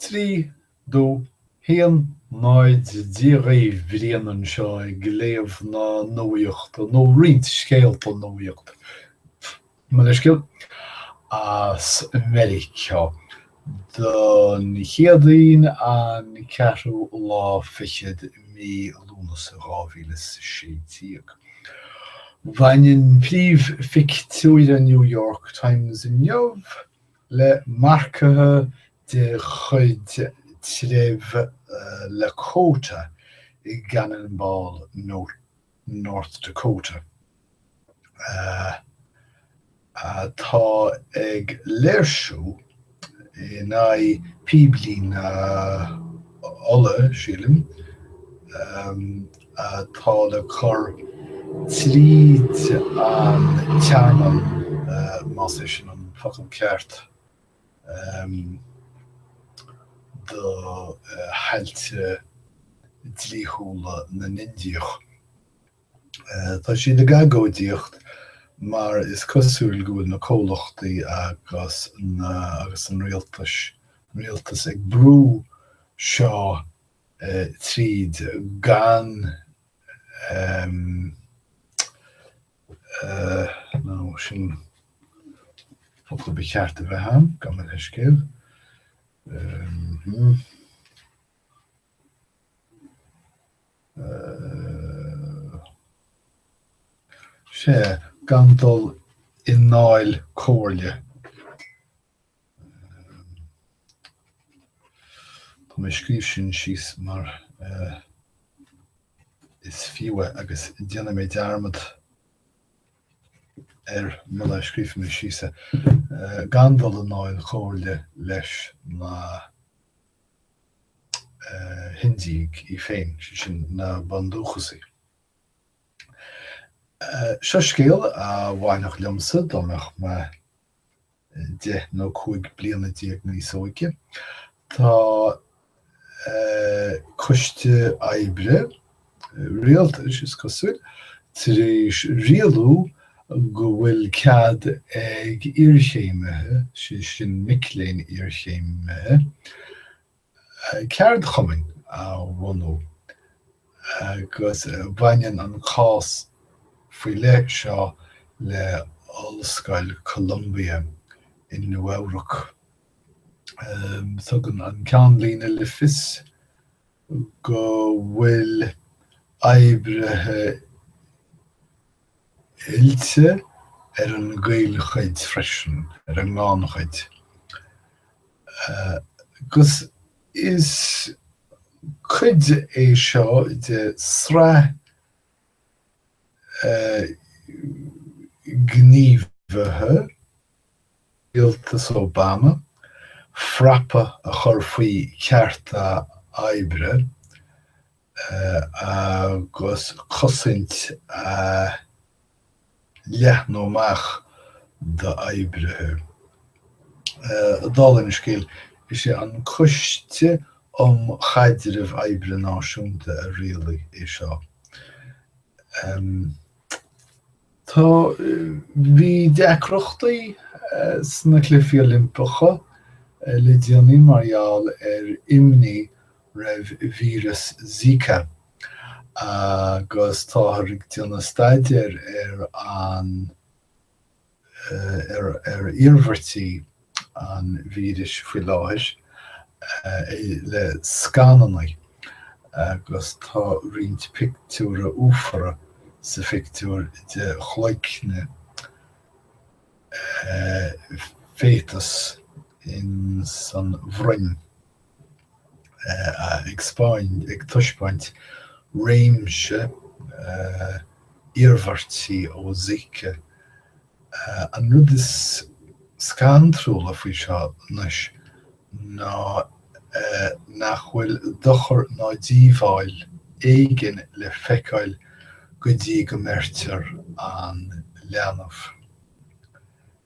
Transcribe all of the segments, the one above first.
3 dó haon náid dó Brian anseo ag léamh na nuaíochta nó roinnt scéalta nuaíochta, mo leithscéal, as Meiriceá don Chéadaoin an ceathrú lá fichead mí Lúnasa 2016. Bhain an príomhphictiúr i New York Times inniu le marcaithe de chuid treibh Lakota i gCannon Ball, North Dakota, atá ag léirsiú in aghaidh píblíne ola, sílim, atá le cur tríd an tearmann, más é sin an focal ceart, do thailte dlíthiúla na nIndiach. Tá siad ag agóidíocht mar is cosúil go bhfuil na comhlachtaí agus an rialtas ag brú seo tríd gan em nó nó sin focal ba cheart a bheith ann, gabh mo leithscéal. Sea, gan dul i ndáil comhairle Tá mé ag scríobh sin síos mar is fiú é agus déanfaidh mé dearmad air muna scríobhfaidh mé síos é. Gan dul i ndáil comhairle leis na hIndiaigh iad féin, sé sin, na Bundúchasaigh. Seo scéal a bhainfeadh liomsa dá mbeinn 10 nó 15 bliana níos óige. Tá coiste oibre rialtais, is cosúil, tar éis rialú go bhfuil cead ag iarchéimithe, sé sin mic léinn iarchéimithe, ceardchumainn a bhunú agus baineann an cás faoi leith seo le hOllscoil Columbia i Nua-Eabhrac. Tugann an ceannlíne le fios go bhfuil oibrithe oilte ar an gcaolchuid freisin, ar an ngannchuid, agus is cuid é seo de shraith gníomhartha rialtas Obama frapa a chur faoi cearta oibre agus cosaint a leathnú amach d'oibrithe. Dála an scéil, is é an Coiste um Chaidreamh Oibre Náisiúnta a rialaigh é seo. Tá bhí deacrachtaí sna Cluichí Oilimpeacha le déanaí mar gheall ar imní roimh víreas Zika agus táthar ag déanamh staidéir ar an. ar iarmhairtí an víris faoi láthair le scananna agus tá roinnt pictiúir uafara sa phictiúr de chloigne féatas in san bhroinn. ag taispeáint réimse iarmhairtí ó Zika. An rud is scantrúla faoi seo anois ná nach bhfuil dochar ná díobháil éigin le feiceáil go dtí go mbeirtear an leanbh.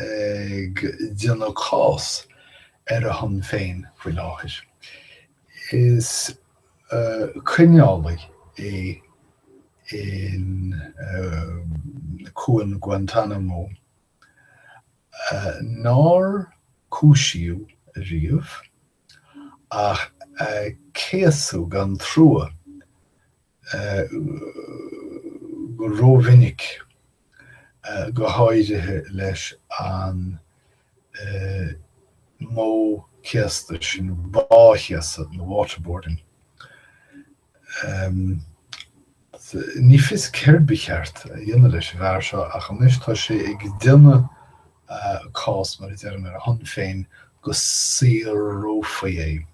ag déanamh cás ar a shon féin faoi láthair. Is coinneálaí é in cuan Guantanamo nár cúisíodh riamh ach a céasadh gan trua go rómhinic, go háirithe leis an modh céasta sin báchéasadh nó waterboarding. Ní fios céard ba cheart a dhéanamh leis an bhfear seo ach anois tá sé ag déanamh cás, mar a deirim, ar a shon féin go saorófaí é.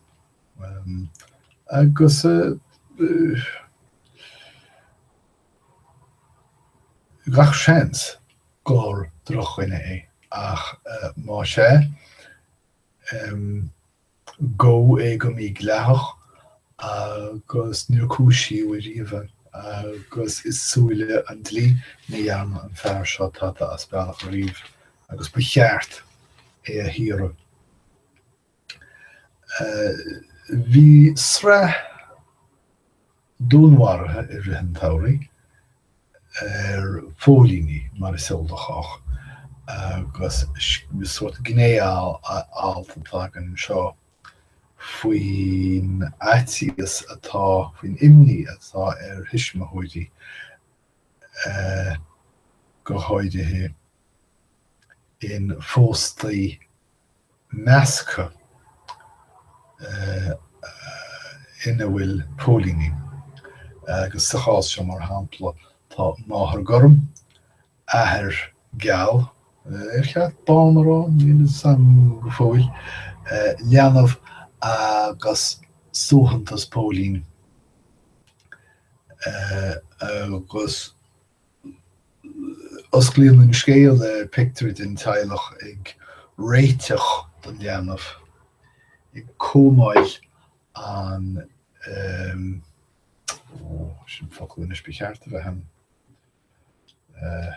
agus gach seans gur drochdhuine é, ach más ea, gabhadh é go mídhleathach agus níor cúisíodh ariamh é, agus i súile an dlí, ní dhearna an fear seo tada as bealach ariamh, agus ba cheart é a shaoradh. Bhí sraith dúnmharuithe i rith an tsamhraidh ar phóilíní, mar is eol do chách, agus is sórt gné-alt atá againn anseo faoin fhaitíos atá, faoin imní atá ar thuismitheoirí go háirithe i bpóstaí. measctha ina bhfuil póilíní, agus sa chás seo, mar shampla, tá máthair gorm, athair geal, ar cheart bán a rá, níl 'fhios a'm go fóill, leanbh agus suaitheantas póilín agus. Osclaíonn an scéal le pictiúr den teaghlach ag réiteach don leanbh, ag cóimeáil an, ó, sin focal anois ba cheart a bheith ann, eh.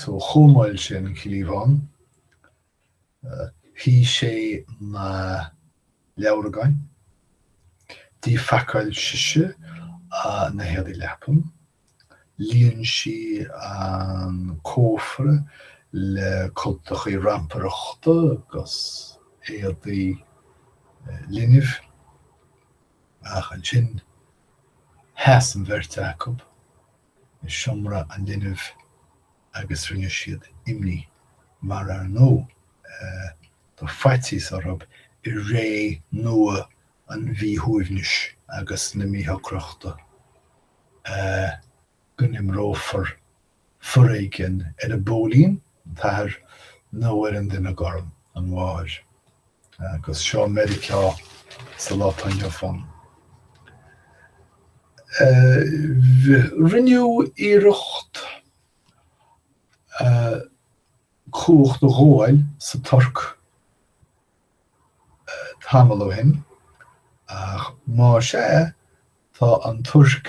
Seo, chóimeáil sé an cliabhán, shuigh sé na leabhragáin, d'fhacáil sise na héadaí leapan, líon sí an cófra le cultacha rampireachta agus éadaí linbh, Ach ansin sheas an bheirt acu i seomra an linbh agus rinne siad imní, mar ar ndóigh bhí faitíos orthu i ré nua an mhíshuaimhnis agus na míshocrachta, go n-imreofar foréigean ar an bpóilín, an t-athair, nó ar an duine gorm, an mháthair. Agus seo Meiriceá sa lá atá inniu ann. Rinneadh iarracht cumhacht a ghabháil sa Tuirc tamall ó shin, ach más ea, tá an Tuirc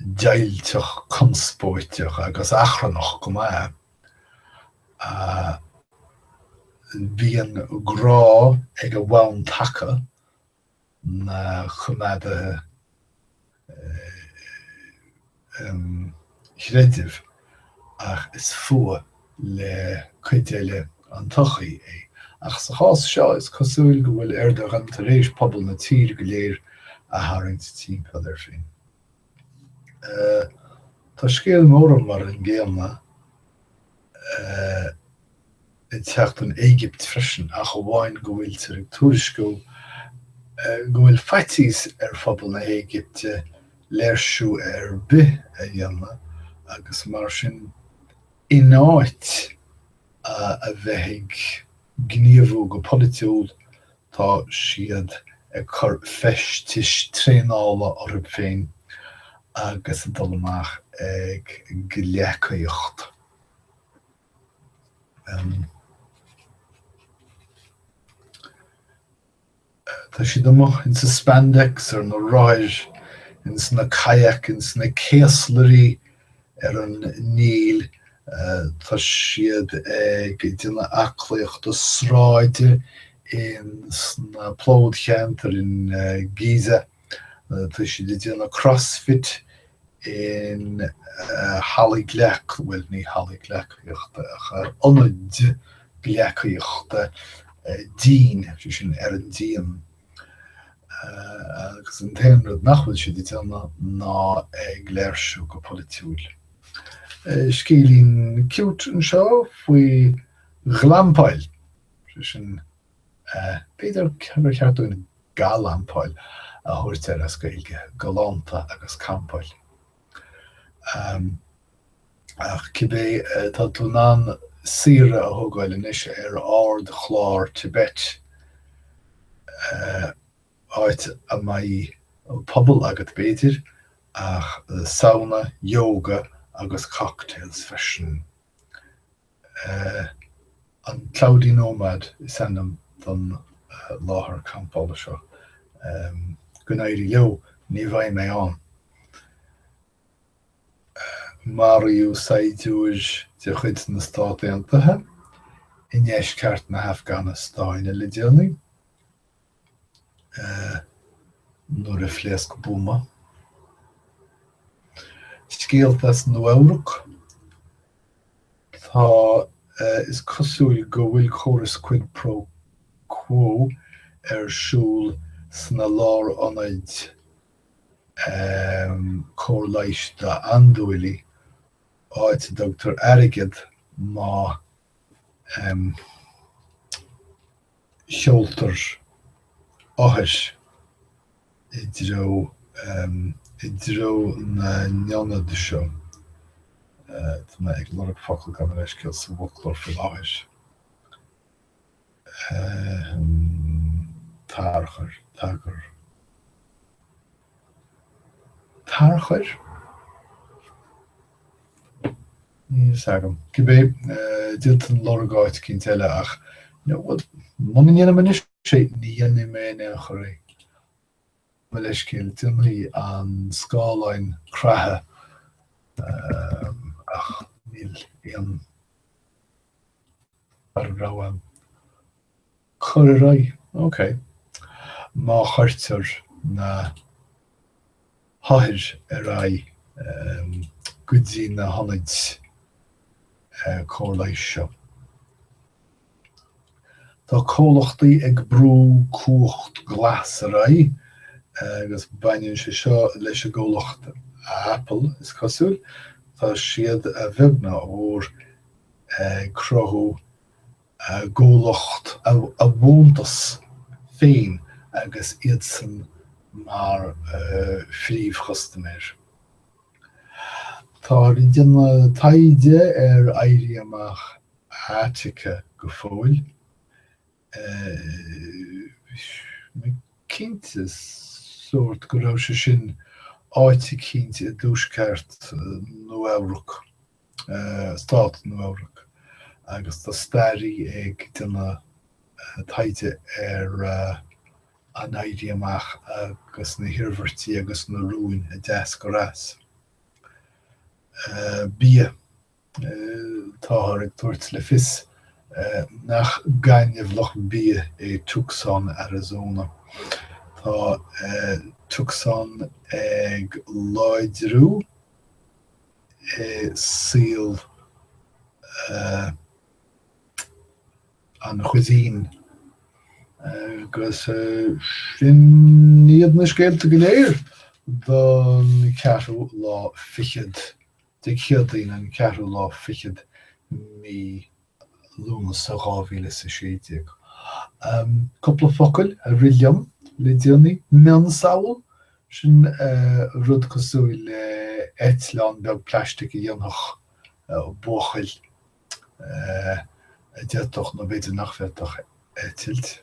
deighilteach, conspóideach agus achrannach go maith. Bíonn grá ag a bhonn taca, na coimeádaigh chreidimh, ach is fuath le cuid eile an tsochaí é. Ach sa chás seo, is cosúil go bhfuil Erdogan tar éis pobal na tíre go léir a tharraingt timpeall air féin. Tá scéal mórán mar an gcéanna ag teacht ón Éigipt freisin, ach amháin go bhfuiltear ag tuairisciú go bhfuil faitíos ar phobal na hÉigipte léirsiú ar bith a dhéanamh agus mar sin In áit a bheith ag gníomhú go polaitiúil, tá siad ag cur feistis traenála orthu féin agus ag dul amach ag gleacaíocht. Tá siad amuigh ins a' spandex, ar na rothair, ins na kayak, ins na céaslairí ar an Níl, tá siad ag déanamh aclaíochta sráide ins na plódcheantair in Giza, Tá siad ag déanamh crossfit in halla gleac, bhuel ní halla gleacaíochta ach ionad gleacaíochta dín, sé sin ar an díon, agus an t-aon rud nach bhfuil siad ag déanamh ná ag léirsiú go polaitiúil. Scéilín cute anseo faoi ghlampáil, sé sin B'fhéidir gur cheart dúinn Galampáil a thabhairt air as Gaeilge, galánta agus campáil. Ach cibé, tá tú in ann saoire a thógáil anois ar ardchlár Tibet, áit a mbeidh puball agat b'fhéidir, ach sauna, yoga agus cocktails freisin. An Cloudy Nomad is ainm don láthair campála seo. Go n-éirí leo, ní bheidh mé ann. Maraíodh saighdiúir de chuid na Stát Aontaithe i ndeisceart na hAfganastáine le déanaí. nuair a phléasc buama. Scéalta as Nua-Eabhrac, tá, is cosúil go bhfuil córas quid pro quo ar siúl sna lárionaid cóir leighis d'andúiligh, áit a dtugtar airgead má. sheoltar othair i dtreo i dtreo na n-ionad seo tá mé ag lorg focal gabh mo leithscéal sa bhfoclóir faoi láthair tarchur, tagair. tarchuir, níl a fhios agam, cibé, d'fhéadfainn lorg áit éicint eile ach, you know, muna ndéanaim anois é, ní dhéanfaidh mé in aon chor é. Mo leithscéal, déanfaidh an scáileán creathadh ach níl aon. rogha. Cur ar aghaidh, OK. Má chuirtear na hothair ar aghaidh go dtí na hionaid cóir leighis seo, tá comhlachtaí ag brú cumhacht ghlas ar aghaidh agus baineann sé seo leis an gcomhlacht Apple, is cosúil. Tá siad, a bheag ná a mhór, ag cruthú a gcomhlacht, a bhfiúntas féin agus iadsan mar phríomhchustaiméir. Táthar ag déanamh taighde ar Éirí Amach Attica go fóill. Attica, cinnte sórt go raibh sé sin áit eicínt i dtuaisceart Nua-Eabhrac, stát Nua-Eabhrac, agus tá staraí ag déanamh taighde ar an Éirí Amach agus na hiarmhairtí agus na rúin a d'eascair as. Bia. Táthar ag tabhairt le fios nach gaineamhlach bia é Tucson Arizona. Tá Tucson ag láidriú i saol an chuisine agus sin iad na scéalta go léir don cheathrú lá fichead. Dé Céadaoin an ceathrú lá fichead de mhí Lúnasa 2016. Cúpla focail a rith liom le déanaí. Mionsamhail? Sin rud cosúil le eitleán beag plaistic a dhéanfadh buachaill a d'fhéadfadh nó b'fhéidir nach bhféadfadh eitilt.